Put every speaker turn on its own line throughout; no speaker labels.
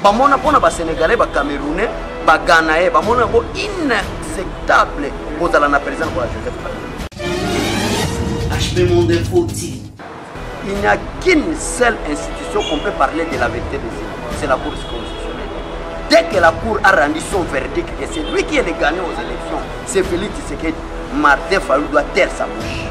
bamona mpo na basenegalais bacamerounais baganaye bamona yango inacceptable kozala na président lokola joseph
il
n'y a qu'une seule institution qu'on peut parler de la vérité des îles c'est la cour constitutionnelle dès que la cour a rendu son verdict que c'est lui qui est le gagnant aux élections c'est félix tshisekedi martin fayou doit taire sa bouche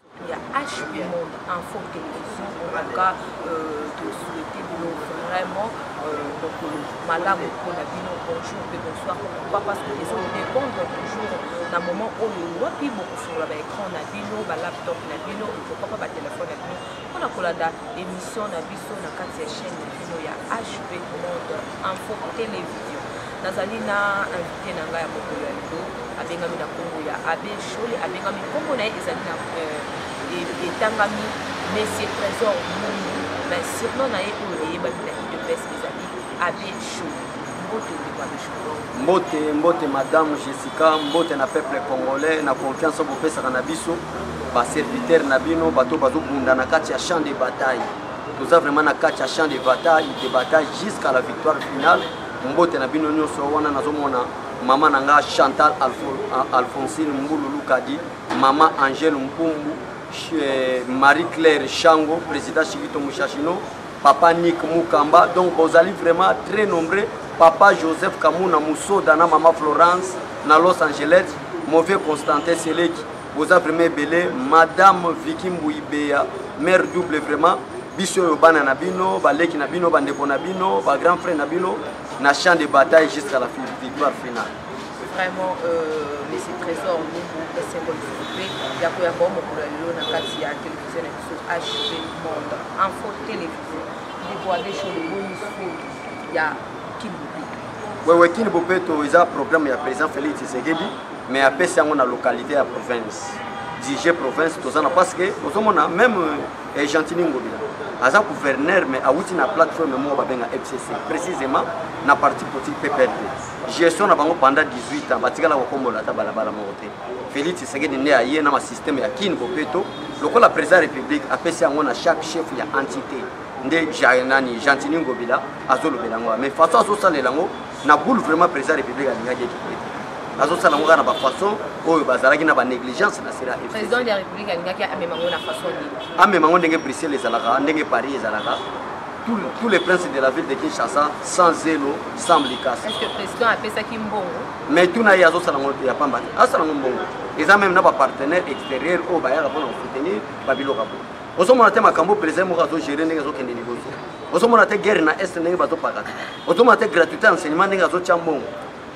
ya
HP Monde Info Télévision oyoka euh, tosouhaite bino vraiment euh, mokolo malamu mpo na bino bonjour mpe bonsoir pourquoi parce que ezo dépendre toujours na moment oyo wapi bokofungola baécran na bino balaptop na bino pourquoi pas batelefone na bino mpo na kolanda émission na biso na kati ya chaîne na bino ya HP Monde Info Télévision Nazali na invité na ngai ya mokolo ya lelo abengami na nkombo ya Abe Shole, abengami nkombo na ye ezali na euh, etangami Monsieur Trésor Mungu, mais surnom na ye oyo eyebami na UDPS ezali Abe Shole. mbote
mbote madame jessica mbote na peuple congolais na confiance oyo bopesaka na biso baserviteur na bino bato bazobunda na kati ya champ de bataille toza vraiment na kati ya champ de bataille de bataille jusqu'à la victoire finale mbote na bino nyonso wana nazomona mama na nga chantal alphonsine mbulu lukadi mama angele mpumbu eh, marie claire shango président chivito mushashino papa nik mukamba donc bozali vraiment très nombreux papa joseph kamuna musoda na mama florence na los angeles mauvais constantin seleki boza vraiment ebele madame viki mbuyi beya mare double vraiment biso oyo bana na bino baleki na bino bandeko na bino bagrand frère na bino na champ de bataille jusqu'à la victoire finale vraiment
euh, mesi trésor mubu esengo lisupe ya koyamba o mokolo ya lelo na kati ya televizio na biso hv monde info televizio ndeko abe sholo boni sukulu ya kibubi wewe kini bopeto
eza programme ya président félix tshisekedi mais apesi yango na localité ya province dirige province toza na parce que ozomona même eh, gentini ngobila aza gouverneur mais awuti na plateforme moko babenga fcc précisément na parti politique pprd gestion na bango pendant 18 ans batikala kokombola ata balabala moko te félix tshisekedi nde aye na masystème ya kini bopeto lokola président république apesi yango na chaque chef ya entité nde nani gentini ngobila azolobela yango mais façon azosalela yango na boule vraiment président république alingaki ete koleka azosala ngo kaka na bafaçon oyo bazalaki na banégligence na sera président de la république
alingaki amema ngo na façon nini amema ngo ndenge bruxelles
ezalaka ndenge paris ezalaka tous, tous les princes de la ville de kinshasa sans zelo sans likasi est ce que président apesaki
mbongo mais tuna ye
azosala ngo ya pamba te asala ngo mbongo eza meme na bapartenaire extérieur oyo bayaka mpona kosoutenir babiloko ya boye ozomona te makambo president moko azogere ndenge ezokende liboso ozomona te guerre na est ndenge bazopaka te ozomona te gratuité ya enseignement ndenge azotya mbongo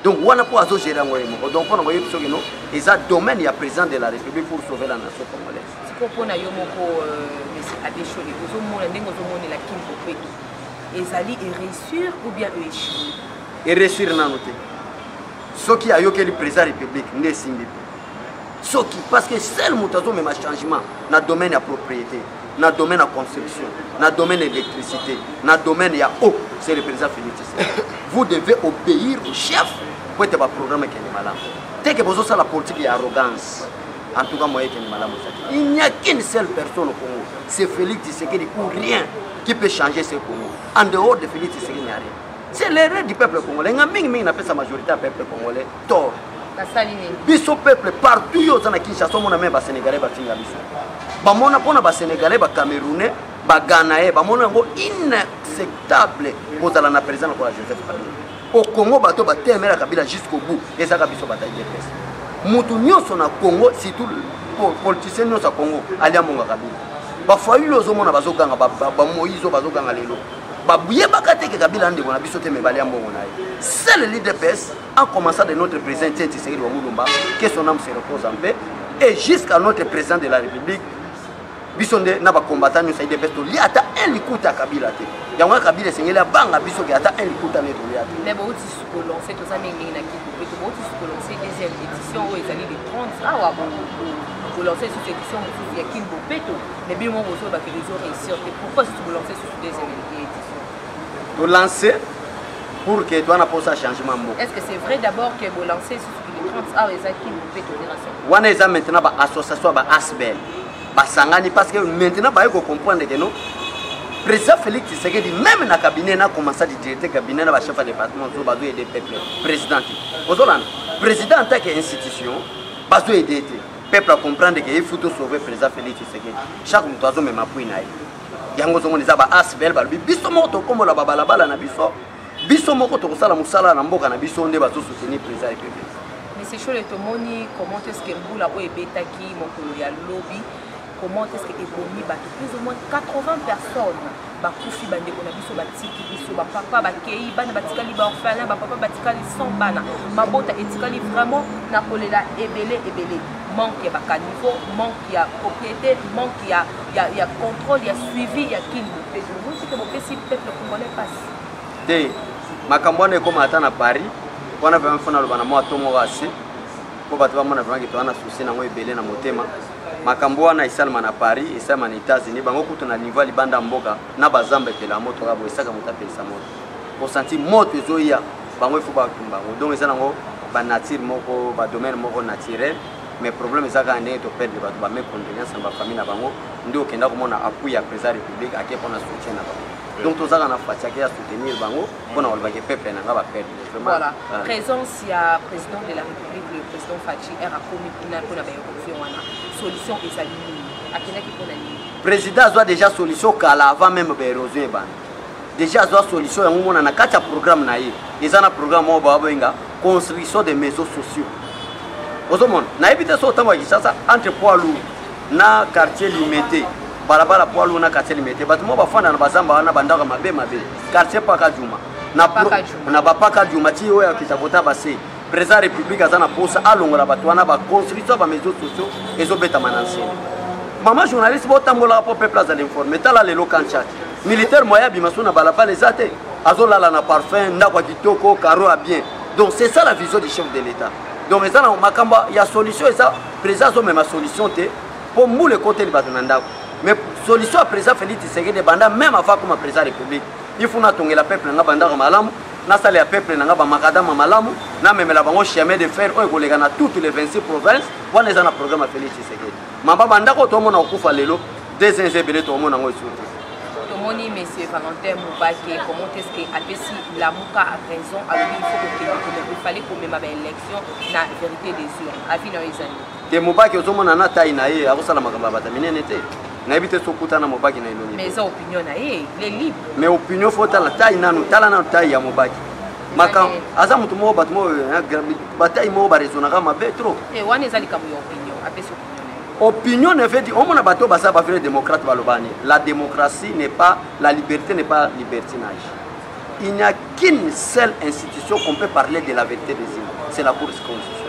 donc wana mpo azogere yango ye moko donc mpo na boyebi soki no eza domaine ya président de la république pour sauver la nation congolaise siko mpo na yo
moko euh, monsieur abeshole ozomona ndenge ozomonela kim popeki ezali eressure ou bien eechue eressure
nano te soki ayokeli président république nde esimbi mpe soki parce que seul moto azomema changement na domaine ya propriété na domaine ya construction na domaine ya électricité na domaine ya eau c'est le président félix vous devez obéir au chef mpo ete baprogramme ekende malamu teke bozosala politique ya arrogance en tout cas moyen ekende malamu ezaki il n'y a qu'une seule personne au congo c'est félix tshisekedi ou rien qui peut changer ce congo en dehors de félix tshisekedi n'y a rien c'est l'erreur du peuple congolais nga mingi mingi napesa majorité ya peuple congolais tort basali nini biso peuple partout yo oza na kinshasa omona meme basénégalais bafinga biso bamona mpona basénégalais bacamerounais baganaye bamona yango inacceptable kozala na président lokola joseph kabila au congo bato batemela kabila jusqu'au bout ezaka biso bataidps moto nyonso na congo surtout politicien nyonso ya congo alia mbonga kabila bafayulu ozomona bazoganga bamoise oyo bazoganga lelo bayebaka te ke kabila ndeko na biso te me balia mbongo na ye sele lidps En commençant de notre président Etienne Tshisekedi wa Mulumba, que son âme se repose en paix, et jusqu'à notre président de la République, biso nde na bacombattant nyonso ya idps tolia ata un likuta ya kabila te yango ya kabila esengeli abanga biso ke ata un likuta nde tolia te mais bouti sukolance
toza ndenge ndenge na kiko mpe tobouti sukolance deuxième édition oyo ezali le 30 awa kolance lisusu édition mosusu ya kin bopeto mais bino moko bozoyebaka ezo réussir te pourquoi susu kolance lisusu deuxième édition To
lancer pour que toi na posa changement mot. Est-ce que c'est vrai d'abord
que vous lancez sur les 30 heures et ça qui vous fait opération? Wana eza maintenant ba
association ba ASBL. basangani parce que maintenant baye kocomprendre ke no président félix tshisekedi même na cabinet na commença de directe cabinet na bachef ya département oyo bazo aide peuple président te ozolanda président en tant que institution bazo aide te peuple acomprendre ke ye futu sauve président félix tshisekedi chaque moto azomema pui na ye yango ozomona eza ba asbel balobi biso moko tokombola babalabala na biso biso moko tokosala mosala na mboka na biso nde bazosoutenir président ya république monsieur shole
tomoni comment est ce que mbula oyo ebetaki mokolo ya lobi comment est ce que ebomi bato plus ou moins 80 personnes bakufi bandeko na biso batiki biso bapapa bakei bana batikali baorphelin bapapa batikali sans bana mabota etikali vraiment na kolela ebele ebele manque ya bakanivo manque ya propriété manque ya ya, ya contrôle ya suivi ya kin bopeto motike bopesi peuple congolais
pasi te makambo wana ekoma ata na paris wana vraimen fo naloba na mwa to moko ase mpo bato bamona vraimen ke toza na susi nango ebele na motema makambo wana esalema na paris esalema na états-unis bango kutu na niveau ya libanda ya mboka na bazamba epelaka moto kaka boye esaka moto apelisa moto osanti moto ezoya bango efo batumba yango donc eza nango banature moko badomaine moko naturel mais problème eza kaka ndenge toperdre bato bame condoléance na bafamille na bango nde okenda komona appui ya président république ake mpona soutien na bango donc tozaka na fati ake ya soutenir bango mpona kolobaki peuple na ngai baperdre voilà euh.
présence ya président de la république le président faci r akomi kuna mpona baeroption wana solution ezali nini akendaki mpona nini président azwa déjà
solution kala avant même baerosion ebanda deja azwa solution yango mona na kati ya programme na ye eza na programme oyo babenga construction de maison sociaux ozomona nayebi te so otambola kinshasa entre poids lourd na quartier limete balabala poids lourd na quartier limete bato moko bafanda na bazamba wana bandako ya mabe mabe quartier paka juma na bapaka juma ti oyo akita kota base Président ya République aza na posa alongola bato wana ba construction ba maisons sociaux ezobetama na nsele. Mama journaliste botambolaka mpo peuple azala informe tala lelo kanchaki militaire moya abima so na balabala eza te azolala na parfum ndako ya kitoko caro ya bien donc c'est ça la vision du chef de l'état donc eza na makambo ya solution eza président azomema solution te mpo mbula ekoteli bato na ndako mais solution ya président félix tshisekedi ebanda même avant akoma président ya république il faut natongela peuple nga bandako malamu nasala ya peuple na nga bamakadama malamu namemela bango chemin de fer oyo ekoleka na toutes les 26 province wana eza na programme ya félix tshisekedi mamba bandako tomona kokufa lelo deux ans ebele tomona yango esu te tomoni monsieur
valentin mobake comment est ce que apesi lamuka raison alobi il faut kokende komema ifale komema baélection na vérité des urnes avis na yo ezali te mobaki ozomona
na tai na ye akosala makambo ya bata minene te nayebi te sokuta na mobaki na elongi mais eza opinion na ye
il est libre mais opinion faut tala
tai nanu tala nanu tai ya mobaki makambo aza moto moko bato moko batai moko baresonaka mabe trop eh, wana eza likambo ya
opinion apesi opinion
ne fait omona bato oyo basala bavrai démocrate balobani la démocratie n'est pas la liberté n'est pas libertinage il n'y a qu'une seule institution qu'on peut parler de la vérité des îles c'est la cour constitutionnelle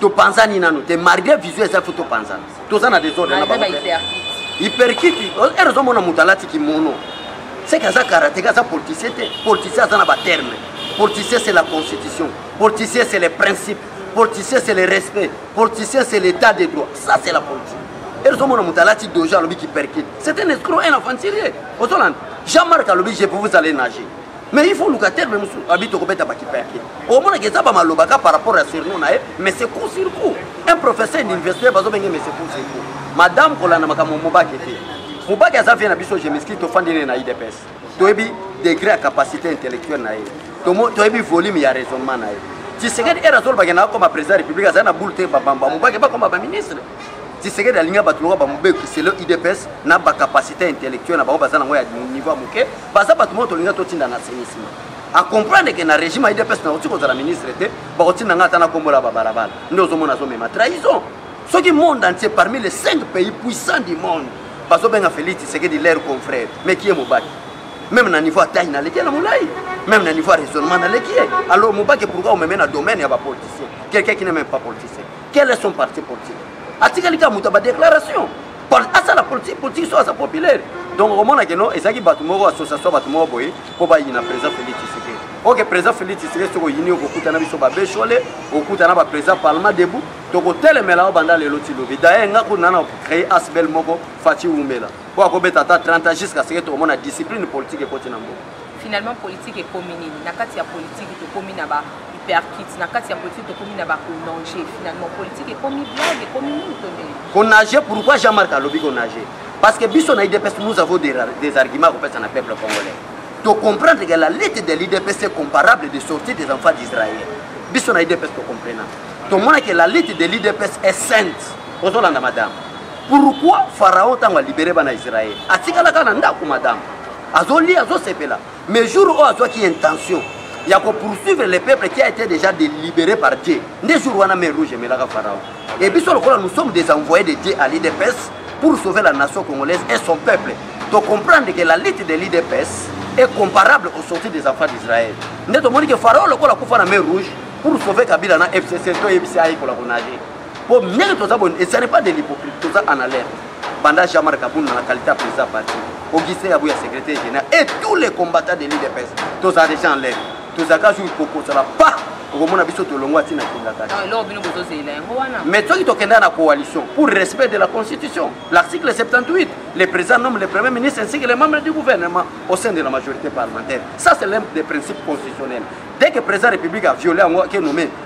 topanzani nanu te malgré vision eza fo topanzana toza na desordre na bango hyperkiti ere ozomona moto alati kimono seke aza karateka aza politicien te politicien aza na baterme politicien c'est la constitution politicien c'est les principes politicien c'est le respect politicien c'est l'état de droit ça c'est la politique ere ozomona moto alati doja alobi kiperkiti c'est un escro un aventurier ozolanda jean marc alobi je peux vous aller nager mais il faut luka terme mosusu abi tokobeta bakiperke omonaka eza bamaloba ka par rapport ya surnom na ye mais c'est coup sur coup un professeur d'université bazobenge mais c'est coup sur coup madame kolanda makambo mobake te mobake aza vie na biso je m'excuse tofandi ne na idps toyebi degré ya capacité intellectuelle na ye toyebi volume ya raisonnement na ye tshisekedi ere azolobake na akoma président ya république azali na boule te babamba mobake bakoma baministre tshisekedi alingi bato lokola bamobekiselo idps na bacapacité intellectuelle na bango baza nango ya niveau ya moke baza bato moko tolinga totinda na senisima acomprendre ke na régime ya idps nakoki kozala ministre te bakotinda ngai ata nakombola babalabala nde ozomona azomema trahison soki monde entier parmi les 5 pays puissant du monde bazobenga félix tshisekedi leur confrère mais qui est mobaki même na niveau ya taille naleki ye na molai même na niveau ya raisonnement naleki ye alors mobaki pourquoi omeme na domaine ya bapoliticien quelqu'un qui ne même pas politicien quel est son parti politique atikali kaka moto ya badéclaration asala politique politique so aza populaire donc okomona ke no ezalaki bato moko association bato moko boye mpo bayina président félix tshisekedi oke président félix tshisekedi soki oyini okokutana biso babeshole okutana baprésident parlement debout tokotelemela yo banda lelo ti lobi daye nga kuna na créé asbel moko faci wumela mpo akobeta ata 30 ans jusqu'à ce que tokomona discipline politique ekoti na mboka finalement politique
ekomi nini na kati ya politique tokomi na ba hyperkit na kati ya politique tokomi na bakonage finalement politique ekomi blague ekomi nini to ndenge konage
pourquoi jean marc alobi konage parce que biso na idps nous avons des, des arguments kopesa na peuple congolais tocomprendre que la lutte de l'idps est comparable de sortie des enfants d'israël biso na idps tocomprena tomona que la lutte de l'idps est sainte ozolanda madame pourquoi pharaon ntango alibere bana israel atikalaka na ndako madame azolia azosepela mais jour oyo azwaki intention ya kopoursuivre le peuple qui a été déjà délibéré par dieu nde jour wana mai rouge emelaka pharaon e biso lokola nous sommes des envoyés de dieu à l'idps pour sauver la nation congolaise et son peuple to comprendre que la lutte de l'idps est comparable aux sorties des enfants d'israël nde tomoni ke pharaon lokola akufa na mai rouge pour sauver kabila na fcc toyebisi ayekola konage mpo ndenge toza boni esali pas de l'hypocrite toza en alerte Banda Jean-Marc Kabund na qualité ya président parti, Augustin Yabu ya secrétaire général et tous les combattants de l'UDPS, tozala déjà en l'air. Tozalaka jour kokosala pa okomona biso tolongwa ntina kingakati mais soki tokenda na coalition pour respect de la constitution l'article 78 le président nomme le premier ministre ainsi que les membres du gouvernement au sein de la majorité parlementaire ça c'est l'un des principes constitutionnels dès que président république a violé yango ake nommé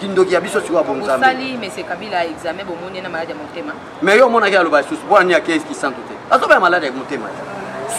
kindoki ya biso sikoyo abongisami mais c'est kabila a
examen bomoni na malade ya motema mais yo omonaki aloba
lisusu mpo ani ake kisantu te azobaya malade ya motema te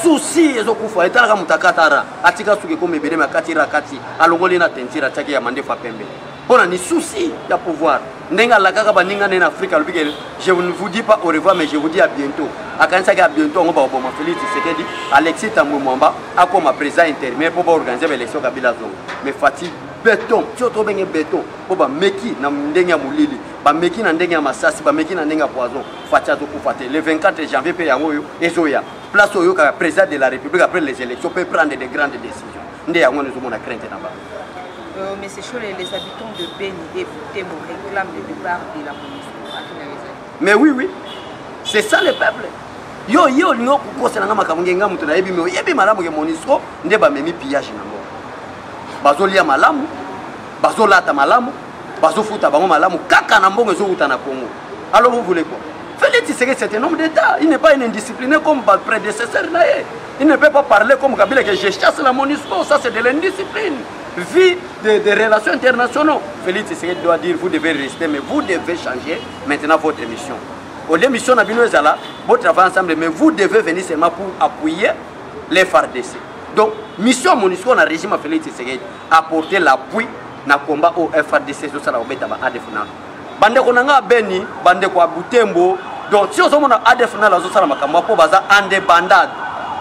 susi ezokufa etalaka moto akatara atika suki ekoma ebele me akatira akati alongoli na tentire atiaki ya mandefu ya pembe mpo na ni susi ya pouvoir ndenge alakaka baninga nde na afrique alobi ke je ne vous dis pas au revoir mais je vous dis à bientôt akanisaki ya bientôt yango bakoboma félix tshisekedi alexis tambwe mwamba akoma président intérimaire mpo baorganize baélection kabila zongo mais fati beton tio tobenge beton mpo bameki na ndenge ya molili bameki na ndenge ya masasi bameki na ndenge ya poison fati azokufa te le 24 janvier mpe yango oyo ezoya place oyokaka président de la république après les élections peut prendre de grandes décisions nde yango wana ezomona crainte na bango Euh, Monsieur
Cholet, les habitants de Beni et Butembo réclament le départ de la police. mais
oui oui c'est ça le peuple yo ye olingi okokosela nga makambo ngenga moto nayebi me oyebi malamu ke monisco nde bamemi pillage na ngo bazolia malamu bazolata malamu bazofuta bango malamu kaka na mbongo ezowuta na congo alors vous voulez quoi Félix Tshisekedi, c'est un homme d'État. Il n'est pas un indiscipliné comme votre prédécesseur. Il ne peut pas parler comme Kabila que je chasse la MONUSCO. Ça, c'est de l'indiscipline. Vie des de relations internationales. Félix Tshisekedi doit dire, vous devez rester, mais vous devez changer maintenant votre émission au lieu mission na bino ezala bo travail ensemble mais vous devez venir seulement pour appuyer les FARDC donc mission ya monusco na régime ya felix tshisekedi apporter l'appui na combat oyo frdc ezosala kobeta ba adf nano bandeko na ngai abeni bandeko ya butembo donc ti ozomona adf nalo azosala makambo mpo baza independante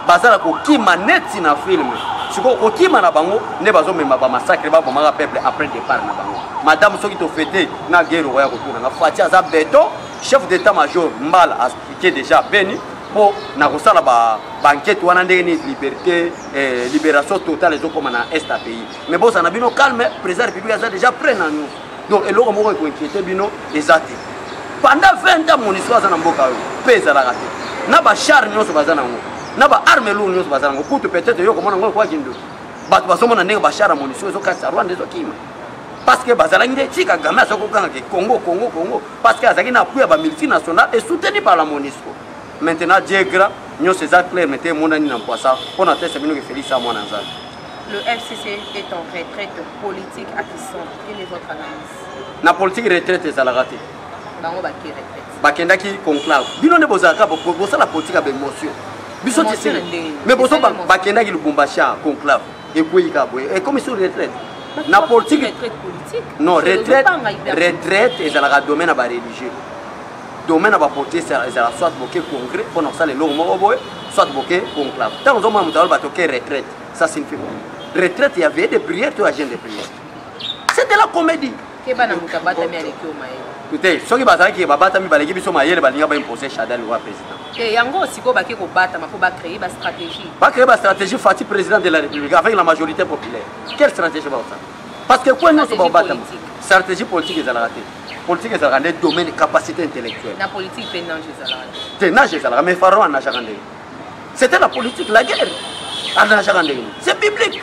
baza na kokima neti na filme sikoyo kokima na bango nde bazomema bamasakre babomaka peuple après départ na bango madame soki tofete na guerre okoya kotuna nga fati aza beton chef d'état major mbala aspike déjà beni mpo na kosala bankete wana ndenge nini liberté eh, libération totale ezokoma na est ya pays mais bozala na bino calme président république aza déjà près na nous donc eloko moko ekoinquiété bino eza te pendant 20 ans monisco aza na mboka oyo mpe ezalaka te na bachar nyonso baza nango na baarme lour nyonso baza nango kutu peut-être yo komona ngo ekwa kindoki bato bazomona ndenge bachar ya monisco ezokatisa rwanda ezokima parce que bazalaki nde ti kagame aza kokanga ke congo congo congo parce que azalaki na appui ya bamultinational et soutenu par la monisco maintenant diegra nyonso eza claire mete emonani na mpwasa mpo na tese bino ke félix ya mwana nzambe le fcc est
en retraite politique à kisson quelle est votre analyse na politique
retraite ezalaka te bango baki
retraite bakendaki conclave
bino nde bozalaka bosala politique ya baémotion biso tisili mais bozo bakendaki lubumbashi conclave ekweyi kaka boye ekomi sur retraite na politique
non retraite
retraite ezalaka domaine ya bareligieux domaine ya baproteste ezala soit boke congrès mpo na kosala eloko moko boye soit boke conclave ntango ozomona moto aloba toke retraite ça signifie retraite ya veille de prière to ya jeune de prière c'était la comédie keba na moto abatami aleki yo mayele te soki bazalaki babatami baleki biso mayele balinga baimpose chadel wa président te yango sikoyo
bake kobatama mpo bacreye bastratégie bacreye bastratégie
fati président de la république avec la majorité populaire quelle stratégie baosala parce que kue nyonso baobatama stratégie politique ezalaka te politique ezalaka nde domaine capacité intellectuelle na politique
mpe nage ezalaka te nage ezalaka mais pharaon
anagaka ndenge c'était la politique la guerre anagaka ndenge c'est biblique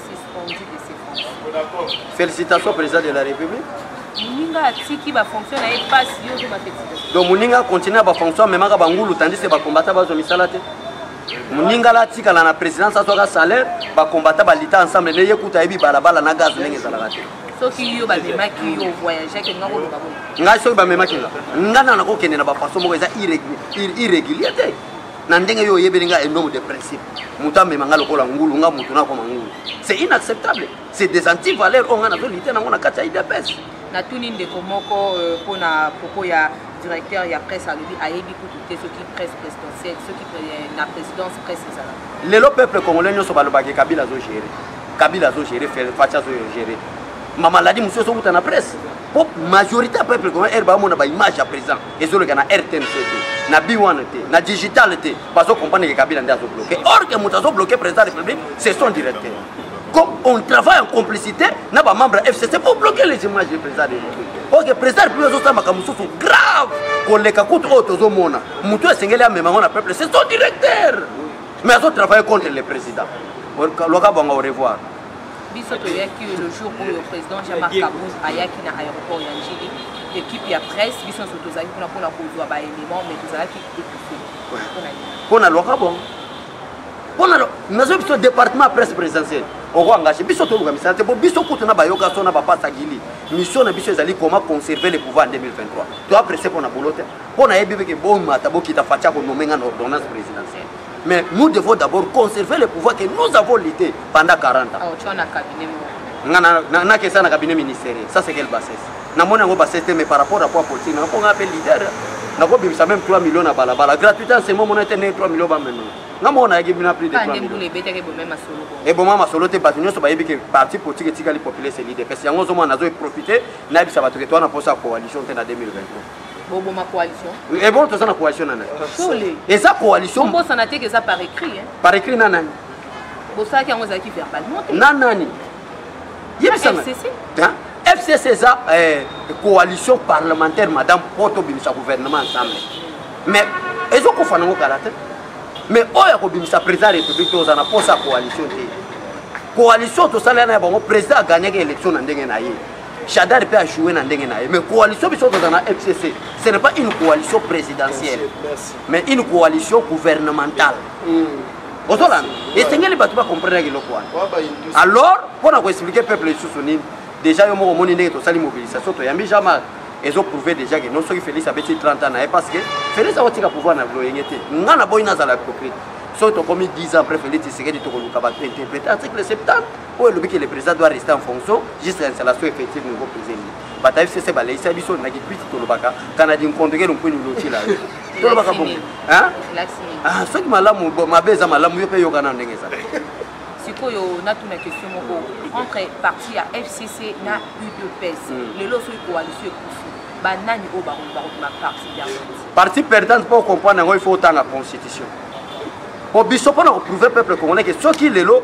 Félicitations président
de la République. moninga
atiki bafonction na ye mpasi yo ozo bafélicitation donc moninga akontinue na
bafonction amemaka bangulu tandis ke bakombata bazwa misala te moninga la atikala na présidence azwaka salaire bakombata balita ensemble nde ye kuta ayebi balabala na gaz ndenge ezalaka te soki yo
bamemaki yo voyageaki nga koloba boye ngai soki bamemaki nga
ngai na nakokende na bafaso moko eza irrégulier te na ndenge yo oyebeli nga un homme de principe moto amema nga lokola ngulu nga moto nakoma ngulu c'est inacceptable c'est des antivaleur oyo nga nazolite nango na kati ya idps natuni ndeko
moko mpo euh, na propos ya directeur ya presse alobi ayebi kutu te soki presse présidentielle soki euh, na présidence presse ezala lelo peuple
congolais nyonso balobaki kabila azogere kabila azogere faci azogere mamaladi mosusu ezokuta na presse mpo majorité ya peuple congolais ere baomona baimage ya président ezoleka na rtnc te na b1 te na digital te bazo comprendre ke kabila nde azobloke or ke moto azobloke président république c'est son directeur comme on travaille en complicité na bamembre ya fcc pour bloquer les images du président de république oke président république azosala makambo mosusu grave koleka kutu oyo tozomona moto oyo esengeli amema yango na peuple c'est son directeur mais azotravaille contre le président loka bango au revoir biso
toyaki le jour oyo président jean-marc kabund ayaki na aéroport ya njili équipe ya presse biso nyonso tozalaki
kuna mpona kozwa baélément mais tozalaki étouffé mpo na lwaka bongo mpo na nazo biso département ya presse présidentielle okoengage biso toluka misala te mpo biso kutu na bayoka so na bapasakili mission na biso ezali koma conserver le pouvoir 2023 toapresse mpo na bolo te mpo nayebi beke bomata bokita fatia konome nga na ordonnance présidentielle Mais nous devons d'abord conserver le pouvoir que nous avons lutté pendant 40 ans. Oh, tu as un
cabinet nga nakesa na cabinet
ministériel ça c'est quelle bassesse namoni yango bassesse te mais par rapport à poids politique nako nga mpe leader nakobimisa même 3 millions na balabala gratuité ensemo mona te ne 3 millions bamema nga moko nayaki bino plus de 3 millions eboma masolo te bato nyonso bayebi ke parti politique etikali populaire c'est l'idps yango ozomona nazo eprofite nayebisa bato ke towana mposa ya coalition te na 2023 boboma
coalition eh bon toza na coalition
na nani sole eza
coalition
bosana te eza par
écrit hein par écrit na nani
bosalaki
yango ezalaki verbalement te na nani
yebisana
fcc hein
fcc eza eh, coalition parlementaire madame po tobimisa gouvernement ensemble mais ezokufa nango kala te mais oyo akobimisa président ya république te oza na posa ya coalition te coalition tosalelana ya bango président aganyaki élection na ndenge na ye Shadari peut jouer na ndenge na ye mais coalition biso toza na FCC ce n'est pas une coalition présidentielle merci, merci.
mais une coalition
gouvernementale mm. ozolanda esengeli bato bacomprendre eloko wana alors mpo na koexplike peuple lisusu nini déjà yo moko omoni ndenge tosali mobilisation toyambi jean marc ezo prouve déjà que non soki félix abeti 30 ans na ye parce que félix akotika pouvoir na loyenge te nga na boyi nazala hypocrite soki tokomi 10 ans après félix tisekedi tokoluka bato interprete article 70 oyo elobi ke le président doit rester en fonction jusqu'à installation effective nouveau président bato ya fcc baleisa biso na kikwiti tolobaka kana dinkondokelo mpo elilotila yo tolobaka bongo ah, soki malamu mabe eza malamu yo mpe yokana ndenge eza sikoyo
natuna question moko entre parti ya fcc na udps hmm. lelo soki coalition ekufi banani oyo bakobima parti yango parti perdante mpo
okomprendre yango il faut otanga constitution mpo biso mpo na koprouve peuple congolais ke soki lelo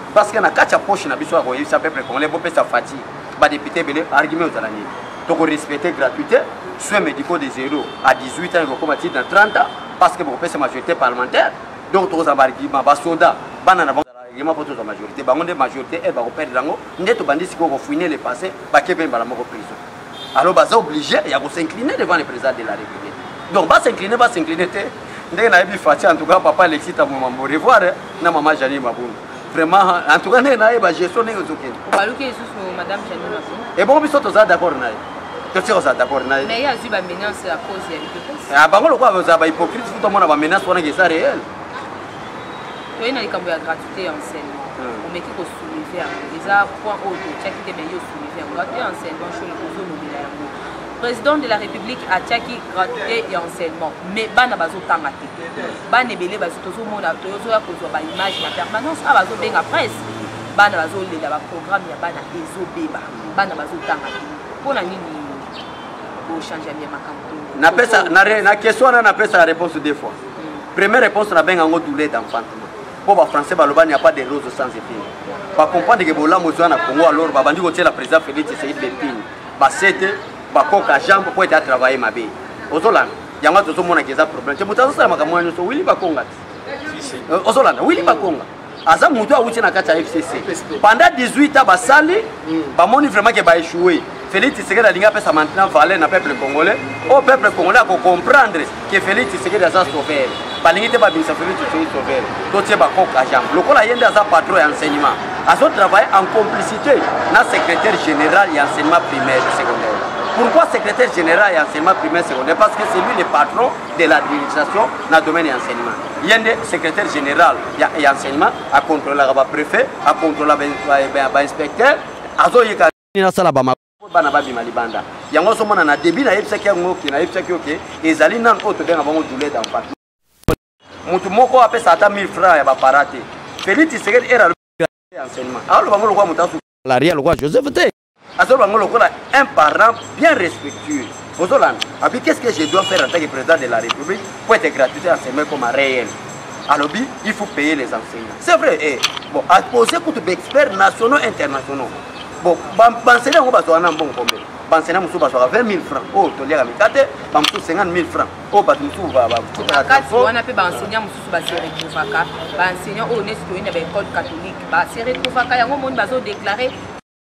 parce que na kati ya poche na biso ya koyebisa peuple congolais bopesa fati badepute ebele argument ozala nini tokorespecte gratuité soins médicaux de 0 à 18 ans ekokoma ti na 30 ans parce que bokopesa majorité parlementaire donc tokozala baargument basoda bana na bangoargument mpo tozwa majorité bango nde majorité e bakoperdre yango nde tobandi sikoyo kofuine le passé bakebe mbala moko prison alors baza oblige ya kosincline devant le président de la république donc basincline basincline te ndenge nayebi fati en tout cas papa alexis tamoma mbo revoir eh, na mama janie mabundu vraiment en tout cas ndenge nayeba gestion ndenge ozokende obaluki lisusu
madame janie mabundu ebongo eh, biso toza d'accord
na ye tosi kozala d'accord na ye azwi
bamenance ya cause ya udps ah, bango lokola kozala
bahypocrite futa omona bamenance wana eza réel
toyei na likambo ya gratuit te ya enseignement hmm. omeki kosoulive yango eza point oyo totyaki te mais yo osoulive yango gratuité ya enseignement shole kozolobela yango président de la république atyaki gratuité ya enseignement mais bana bazotanga te bana ebele bazo tozomona tozoya kozwa baimage na permanence a bazobenga presse bana bazolela baprogramme ya bana ezobeba bana bazotanga te mpo na nini bochange ya makambo na question wana
napesaka réponse deux fois hmm. première réponse nabenga yango douleur d'enfantement mpo ba français balobani ya pas de rose sans epine bacomprendre ke bolamu ezwa na congo alors babandi kotiela président félix tshisekedi bepine basete bakoka jambe mpo ete atravaille mabe ozolanda yango tozomonaka eza problème te moto azosala makambo wana nyonso wili bakonga te euh, ozolanda wili bakonga aza moto awuti na kati ya fcc pendant 18 ans basali mm. bamoni vraiment ke baechoue Félix Tshisekedi alingi apesa maintenant valeur na peuple congolais oyo oh, peuple congolais akocomprendre ke Félix Tshisekedi aza sauveur balingi te babimisa Félix Tshisekedi sauveur totie bacoke a jambe lokola ye nde aza patron ya enseignement azotravaille en complicité na secrétaire général ya enseignement primaire et secondaire pourquoi secrétaire général ya enseignement primaire secondaire parce que c'est lui le patron de l'administration na domaine ya enseignement ye nde secrétaire général ya, ya enseignement acontrolaka bapréfet acontrolaka bainspecteur azoyika nasala ba bana babima libanda yango azomona na debi nayebisaki yango oke nayebisaki oke ezali nano oyo tobenga bango doule d'enfant motu moko apesa ata 1000 franc ya bapara te feli tisekedi era enseignement aloba yango lokola moto asalaria lokola joseph te azoloba yango lokola un parent bien respectueux ozolanda abi qu'est ce que je dois faire en tant que président de la république pour être gratuité enseignement comme réel alobi il faut payer les enseignants c'est vrai eh. bon apose kutu baexperts nationaux internationaux bon bansene yango bazwaka na mbongo pombe bansene mosusu bazwaka 20 000 franc oyo oh, toliaka mika te bamosusu 50 000 franc oyo oh, bato mosusu bakati wana mpe baenseignant mosusu base retrouvaka baenseignant oyo oh, neti toyei na
baekole catholique base retrouvaka yango omoni bazodeklare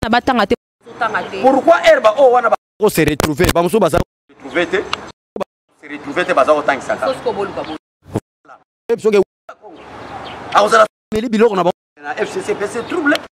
na batanga te totanga te
pourquoi aire ba oyo wana ko se retrouver ba musuba za retrouver te ba se retrouver te baza kotangisa ka sosko boluka bo voilà episode akozala meli biloko na ba na FCC pe c'est trouble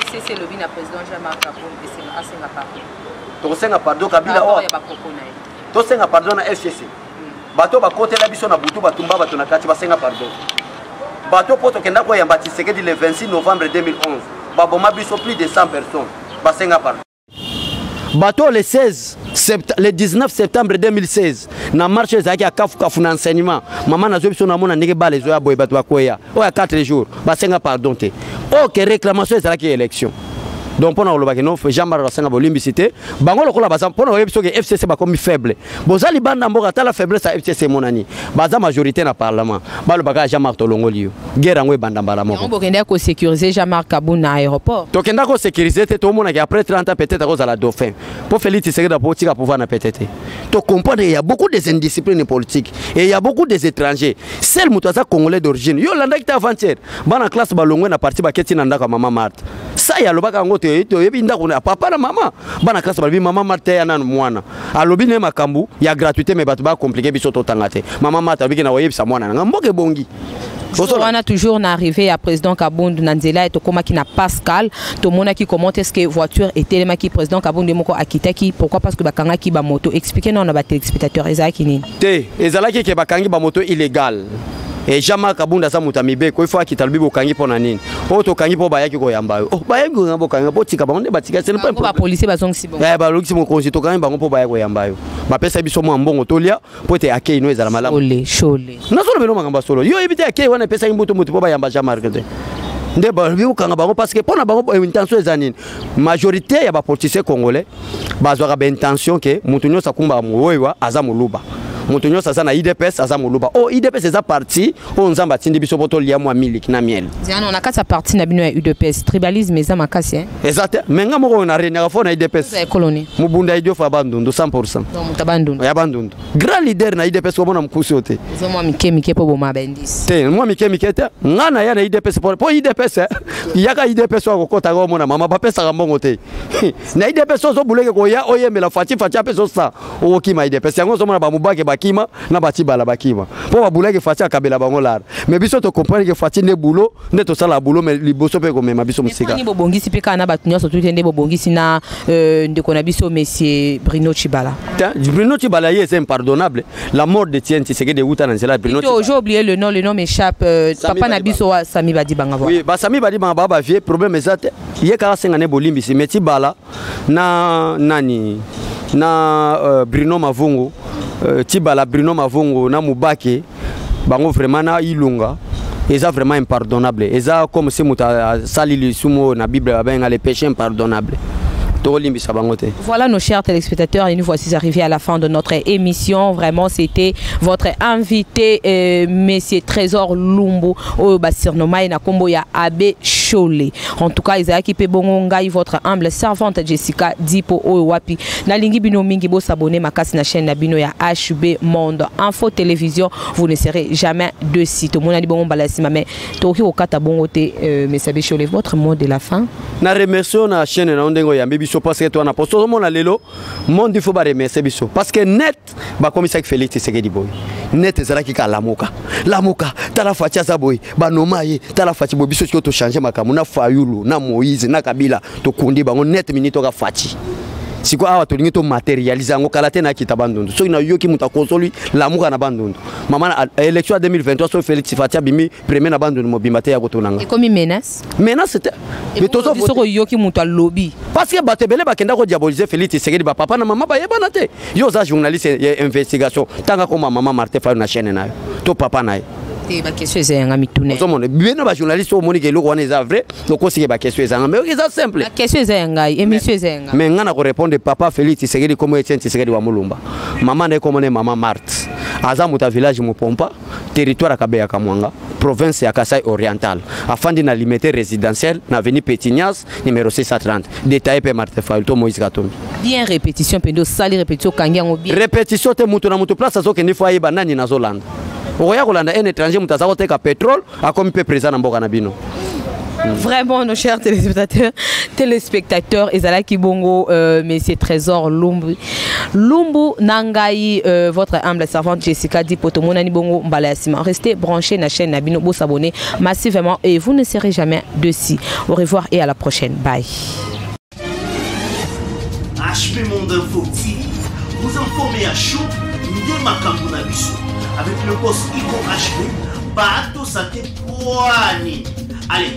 fcc elobi na président jean marc kabon asenga pardon tokosenga
pardon kabila oyo ya bakoko na ye tosenga pardon na fcc hmm. bato bakotela biso na butu batumba bato na kati basenga pardon bato mpo tokenda koyamba tshisekedi le 26 novembre 2011 baboma biso plus de 100 personnes basenga pardon bato oyo le 16 sept, le 19 septembre 2016 na marche ezalaki ya kafukafu na enseignement mama nazwi biso namona ndenge bala ezoya boye bato bakweya oyo ya 4 jours basenga pardon te oke réclamation ezalaki ya élection donc mpo na kolobaki no jean mara asenga bolimbisi te bango lokola baza mpo na koyebi soki fcc bakomi faible boza libanda mboka tala faiblesse ya fcc emonani baza majorité na parlement balobaka ya jean marc tolongoli yo guerre yango ebanda mbala moko bokendaki kosécurise
jean marc kabu na aéroport tokendaki kosécurise te
tomonaki après 30 ans peut-être akozala dauphin mpo félix tshisekedi apo otika pouvoir na pete te tocomprendre ya beaucoup des indisciplines politiques et ya beaucoup des étrangers sel moto aza congolais d'origine yo olandaki te avant-hier bana classe balongwe na parti baketi na ndako ya mama marte sai alobaka yango toyebi ndako ya papa na mama bana classe balobi mama marte ya nanu mwana alobi ne makambu ya gratuité mais bato ba compliquer biso to tangate mama mata alobi ke na oyebisa mwana na nga mboka ebongi wana
toujours na arrivé ya président kabundu na nzela tokomaki na pascal tomonaki comment est ce que voiture etelemaki président kabundu ye moko akitaki pourquoi parce que bakangaki bamoto expliqué nao na batelespectateur ezalaki nini te ezalaki ke
bakangi bamoto illégal e jama kabunda aza moto ya mibeko ifo akita lobi bokangi mpo na nini oyo tokangi mpo bayaki koyamba yo oh, bayaki koyamba bokangi mpo tika bango nde batika bapolisier bazongisi
Eh, balukisi mokonzi tokani
bango mpo baya koyamba yo bapesa biso mwa mbongo tolia mpo ete akei no ezala malamu nazolobelo
makambo ya
solo yo oyebi te akei wana epesaki mbutu motu mpo bayamba jean marc te nde balobi kokanga bango parce que mpo na bango intention eza nini majorité ya bapoliticien congolais bazwaka baintention ke moto nyonso akumbaka mowewa aza moluba moto nyonso aza na idps aza moluba o oh, idps eza parti oyo nzambe atindi biso mpo tolia mwa miliki na miel ziano na kati ya parti
na bino ya udps tribalisme eza makasi eh? eza te me nga moko oyo
na renyaka fo na udps mobunda
idiofa ya bandundu
100 ya
bandundu grand
leader na udps komona mokusi oyo te mwa mike mike mpo
boma bendisi te mwa mike mike te
nga na ya na udps mpo udps eh? yaka udps oyo akokotaka omona mama bapesaka mbongo te na udps ozobuleke koya oyembela faci faci apesa osa okokima idps yango ozomona bamubake bakima na batibala bakima mpo babulaki fati akabela bango lara me biso tokomprendre ke fati nde bulo nde tosala bulo me liboso mpe ekomema biso mosikani bobongisi mpe kaka na bato
nyonso tuti nde bobongisi na euh, ndeko na biso monsieur bruno chibala bruno chibala
ye eza impardonnable la mort de tien tisekede euta na nzela ya bruno ojo oublier le nom le nom
m'échappe euh, papa na biso wa sami badibanga oui basami badibanga
baa bavie problème eza te ye kaka asenga ne bolimbisi me tibala na nani na euh, Bruno Mavongo euh, Tibala Bruno Mavongo na Mubake bango vraiment na Ilunga eza vraiment impardonnable eza comme si moto asali lisumu oyo na bible babenga le péché impardonnable tokolimbisa bango
te voilà nos chers téléspectateurs et nous voici arrivés à la fin de notre émission vraiment c'était votre invité euh, monsieur trésor lumbu oyo basurnoma ye na nkombo ya abe shole En tout cas, Isaac Pebongo Ngai, votre humble servante Jessica Dipo Oyo Wapi. Nalingi Bino Mingi, bo s'abonner ma casse na chaîne na Bino ya HB Monde Info Télévision. Vous ne serez jamais de site. Mon ali bongo mbala sima mais toki okata bongo te euh, mais ça béchole votre mot de la fin. Na remercie na
chaîne na ondengo ya biso parce que toi na poste mon lelo monde il faut ba remercier biso parce que net bakomisaki felix tshisekedi boye nete ezalaki kaka lamuka lamuka tala faci aza boye banoma ye tala faci boye biso sikoyo tochange makambo na fayulu na moïse na kabila tokundi bango nete mini toka faci sikoyo awa tolingi tomaterialise yango kala te nakita bandundu soki nayoki moto akosoli lamuka na bandundu mama na élection ya 2023 soki félix fati abimi premier na bandundu mobimba te ya kotuna nga ekomi menace
menace
te soki oyoki moto
alobi parce que bato ebele
bakenda kodiabolize félix tshisekedi bapapa na mama bayebana te yo oza journaliste ya investigation tanga koma mama martin fayo na chaîne na yo to papa na ye te bakestion eza
yanga mituna ozomona bino bajournaliste
oyo omonike eloko wana eza vrai okosike bakestion eza yanga mais eza simple bakestion eza ya ngai
émission eza ya ngai mais ngai nakorépondre papa
félix tisekedi komo etienne tisekedi wa molumba mama na ye komona ye mama marte aza moto ya village mopompa territoire ya kabeya kamwanga province ya kasai oriental afandi na limete résidentielle na avenue petinias numéro 630 détaillé pe Martin Fayulu to Moïse Katumbi bien répétition pe ndo sali
répétition kangi yango bien répétition te mutu na mutu
place azoke ndifo ayeba nani nazo landa okoya kolanda un étranger mutu aza koteka pétrole akomi pe président na mboka na bino Vraiment,
nos chers téléspectateurs, téléspectateurs, Ezalaki Bongo, euh, Monsieur Trésor Lumbu. Lumbu Nangai, euh, votre humble servante Jessica dit Potomonani Bongo Mbalayasima. Restez branchés na chaîne Nabino, vous s'abonnez massivement et vous ne serez jamais de si. Au revoir et à la prochaine. Bye.
HP Monde Info TV, vous informez à chaud nde makambo na biso avec le boss Ico HP bato sa te poani. Allez,